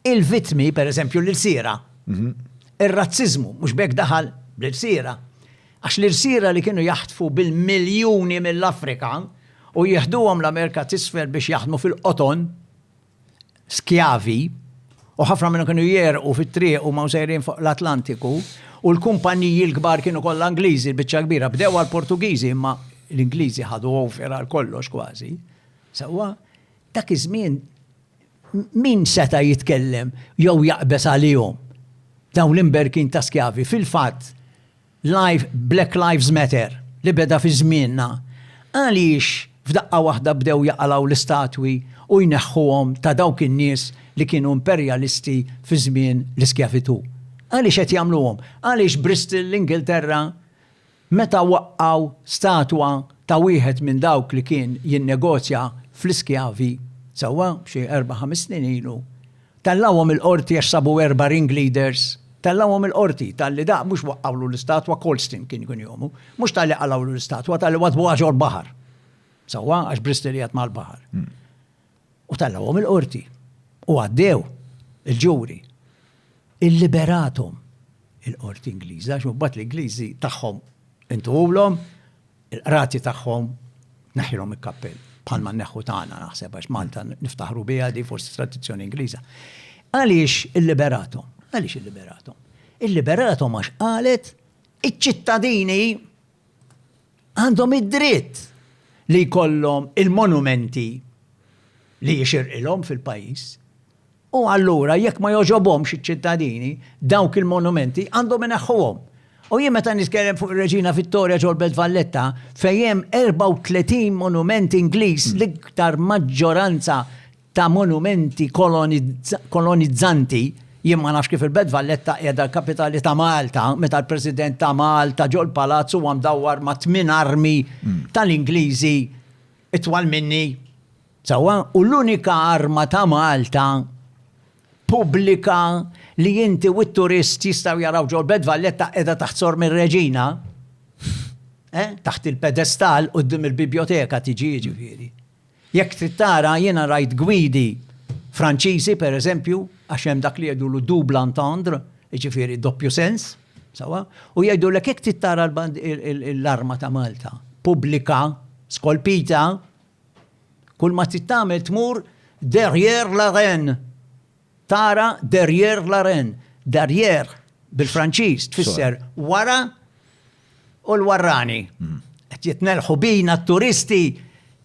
il-vittmi, pereżempju l-irsiera. Ir-razziżmu mhux b'hekk daħal bl-irsiera. Għax l-irsiera li kienu jaħtfu bil-miljuni mill-Afrika u jieħduhom l-Amerika t'Isfel biex jaħdmu fil-qoton, skjavi, u ħafna minnhom kienu jegħrqu fit-triq huma u sejrin fuq l-Atlantiku, u l-kumpanniji l-kbar kienu kollha Ingliżi, l-biċċa l-kbira, bdew għall-Portugiżi imma l-Ingliżi ħadu over għal kollox kważi. Sewwa, dak iż-żmien Min seta' jitkellem jew jaqbeż għalihom? Dawn l-imberkin ta' skjavi. Fil-fatt, Black Lives Matter, li beda fi żmienna, għaliex f'daqqa waħda bdew jaqalgħu l-istatwi u jneħħuhom ta' dawk in-nies li kienu imperjalisti fi żmien l-iskjavitù? Għaliex qed jagħmluhom? Għaliex Bristol, l-Ingilterra, Meta waqqgħu statwa ta' wieħed minn dawk li kien jinnegozja fl-iskjavi, sewwa xi erba' ħames snin ilu, tellgħuhom il-Qorti għax sabu erba' ringleaders. Tellgħuhom il-Qorti talli dak mhux waqqgħulu l-istatwa, Colston kien ikun jomu, mhux talli qalgħulu l-istatwa, talli waddbuha ġol-baħar. Sewwa, għax Bristol qiegħed mal-baħar. U tellgħuhom il-qorti. U għaddew il-ġuri. Illiberathom il-qorti Ingliża għax imbagħad l-Ingliżi tagħhom intuhulhom il-qrati tagħhom neħħilhom il-kappell bħalma neħħu tagħna naħseb għax Malta niftaħru biha di forsi tradizzjoni Ingliża. Għaliex illiberathom? Għaliex illiberathom? Illiberathom għax qalet iċ-ċittadini għandhom id-dritt li jkollhom il-monumenti li jixirqilhom fil-pajjiż. U allura jekk ma jogħġobhomx iċ-ċittadini, dawk il-monumenti għandhom ineħħuhom. U jien meta nitkellem fuq ir-Reġina Vittoria ġol-Belt Valletta fejn hemm 34 monument Ingliż l-iktar maġġoranza ta' monumenti kolonizzanti, jien ma nafx kif il-Belt Valletta qiegħda l-kapitali ta' Malta meta l-President ta' Malta ġol-Palazz huwa mdawwar ma' tmien armi tal-Ingliżi itwal minni. Sewwa? U l-unika arma ta' Malta pubblika li inti u t-turist jistgħu jaraw ġol-Belt Valletta qiegħda taħt Sor Mir-Reġina. Eh? Taħt il-pedestal quddiem il-bibjoteka tiġi jiġifieri. Jekk trid tara, jiena rajt gwidi Franċiżi, per eżempju, għax hemm dak li jgħidulu double entendre, jiġifieri doppju sens, sewwa, u jgħidulek jekk trid tara l-arma ta' Malta pubblika, skolpita, kull ma trid tagħmel tmur derrière la reine. Tara derrière la reine. Derrière bil-Franċiż tfisser wara u l-warrani. Qed jitnelħu bina t-turisti,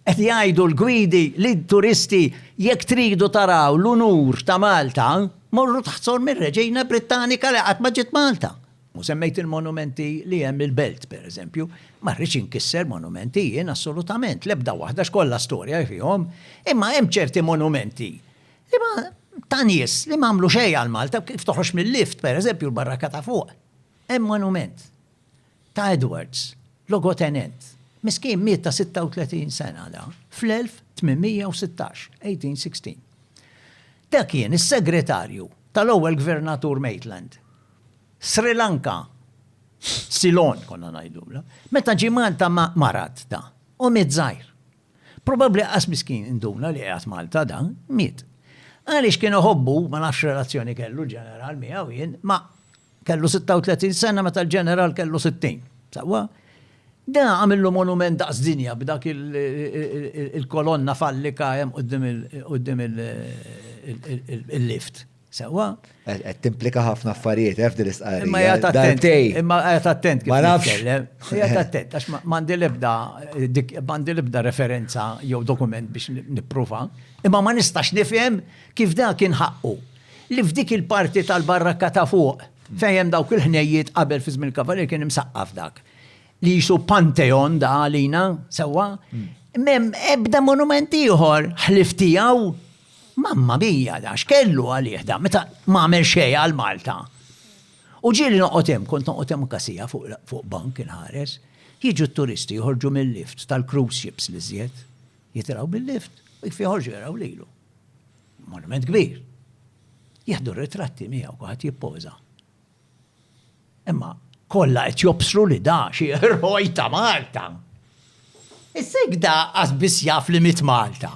qed jgħidu l-gwidi lid-turisti jekk tridu taraw l-unur ta' Malta, morru taħt sorm ir-Reġina Brittanika li qatt ma ġiet Malta. U semmejt il-monumenti li hemm il-Belt, pereżempju. Ma rridx inkisser monumenti jien assolutament, l-ebda waħda għax kollha storja fihom. Imma hemm ċerti monumenti Liema ta' nies li m'għamlu xejn għal Malta, kif toħroġ mill-lift, pereżempju l-barraka ta' fuq, hemm monument ta' Edwards, logotenent. Miskin miet ta' 36 sena da, fl-1816, 1816. Da kien is-segretarju tal-ewwel gvernatur Maitland. Sri Lanka, Ceylon konna ngħidulha, meta ġie Malta marad da, u miet żgħir. Probabbli aqqas miskin induna li qiegħed Malta dan, miet. Għaliex kien iħobbu, ma nafx relazzjoni kellu ġeneral miegħu jien, ma kellu 36 sena meta l-ġeneral kellu 60. Saqwa? Da għamillu monument daqs dinja b'dak il-kolonna fallika hemm qudiem il-lift. Sewa. Qed timplika ħafna affarijiet eh, f'din l-istqarrija. Imma jgħat attent. Imma jgħat attent. Ma nafx. Jgħat attent, għax mandi lebda, mandi lebda referenza jew dokument biex nipprova. Imma ma nistax nifhem kif da kien ħaqqu. Li f'dik il-parti tal-barrakka ta' fuq, fejem dawk il-ħnejjiet qabel fi żmien kavalier kien imsaqqaf dak. Li jisu panteon da għalina, sewa. Mem ebda monumenti ieħor ħliftijaw Mamma mia da x'kellu għalih da meta ma għamel xejn għal Malta. U ġieli noqgħod hemm, kont noqgħod hemm anka siegħa fuq bank inħares, jiġu t-turisti joħorġu mil-lift tal-cruise ships l-iżjed, jitilgħu bil-lift u kif joħorġu jaraw lilu. Monument kbir. Jieħdu ritratti miegħu, kulħadd jippoża. Imma kollha qed jobsru li da xi eroj ta' Malta. Issa jekk da qas biss jaf li miet Malta.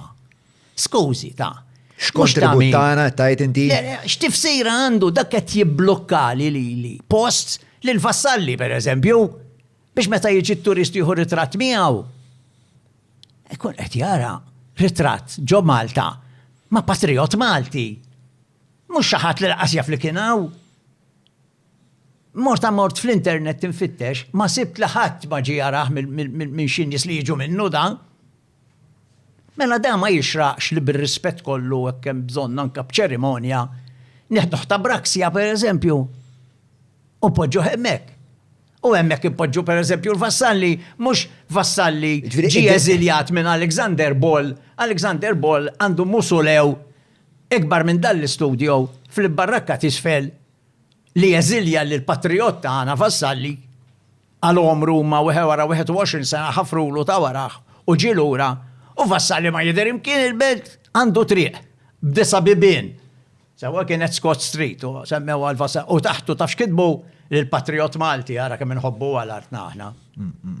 Skużi, ta. X'kontribut tagħna qed tgħid inti? Le, le, x'tifsira għandu dak qed jibblukkali lili post lil Vassalli pereżempju biex meta jiġi t-turist jieħu ritratt miegħu ikun qed jara ritratt ġo Malta ma' patrijott Malti. Mhux xi ħadd li laqas jaf li kien hawn. Mort mort fl-internet tinfittex, ma sibt li ħadd ma ġie jarah minn xi nies li jiġu minnu dan. Mela dan ma jixraqx li bir-rispett kollu hekk hemm bżonn anke b'ċerimonja neħduh ta' braksja pereżempju u poġġuh hemmhekk. U hemmhekk impoġġu pereżempju l-vassalli, mhux vassalli ġie eżiljat minn Alexander Ball, Alexander Ball għandu musulew Ikbar minn dan l-istudjo, fl-imbarrakka t'isfel, li jeżilja lill-patrijott tagħna Vassalli, għal għomru huma wara 21 sena ħafrulu ta' warajh u ġie lura, u Vassalli ma jidher imkien il-belt għandu triq b'disa' bibien, sewwa kienet Scott Street u semmewha għal Vassalli, u taħtu taf x'kitbu? Lill-patrijott Malti, ara kemm inħobbuha l-artna aħna.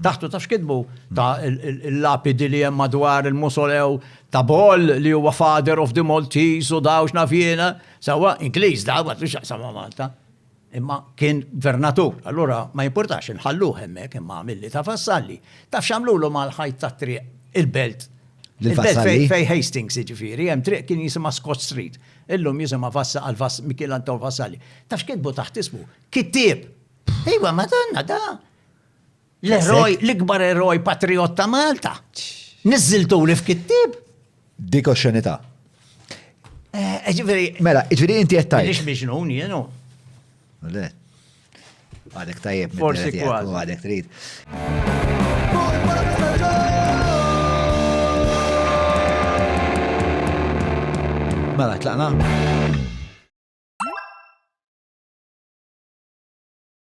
Taħtu ta' xkidbu ta' il-lapidi li hemm madwar il-musolew ta' Bol li huwa father of the Maltese u dawx nafjena, sawa Ingliż da għat li xaqsam ma' Malta. Imma kien gvernatur, allura ma jimportax inħallu hemmek imma għamilli ta' vassalli. Taf xamlu l mal ħajt ta' triq il-belt. Il-belt fej Hastings ġifiri, hemm triq kien jisima Scott Street. Illum jisima Vassa għal Mikiel Anton Vassalli. Taf xkidbu taħt ismu? Kittib! Iva, madonna, da. L-eroj, l-ikbar eroj patriot ta' Malta. Nizziltu li f'kittib. Dik oxxenità. Eh, ġifieri. Mela, ġifieri inti qed tajt. Biex miġnun jienu. Le. Għadek tajjeb. Forsi kważi. Għadek trid. Mela, tlaqna?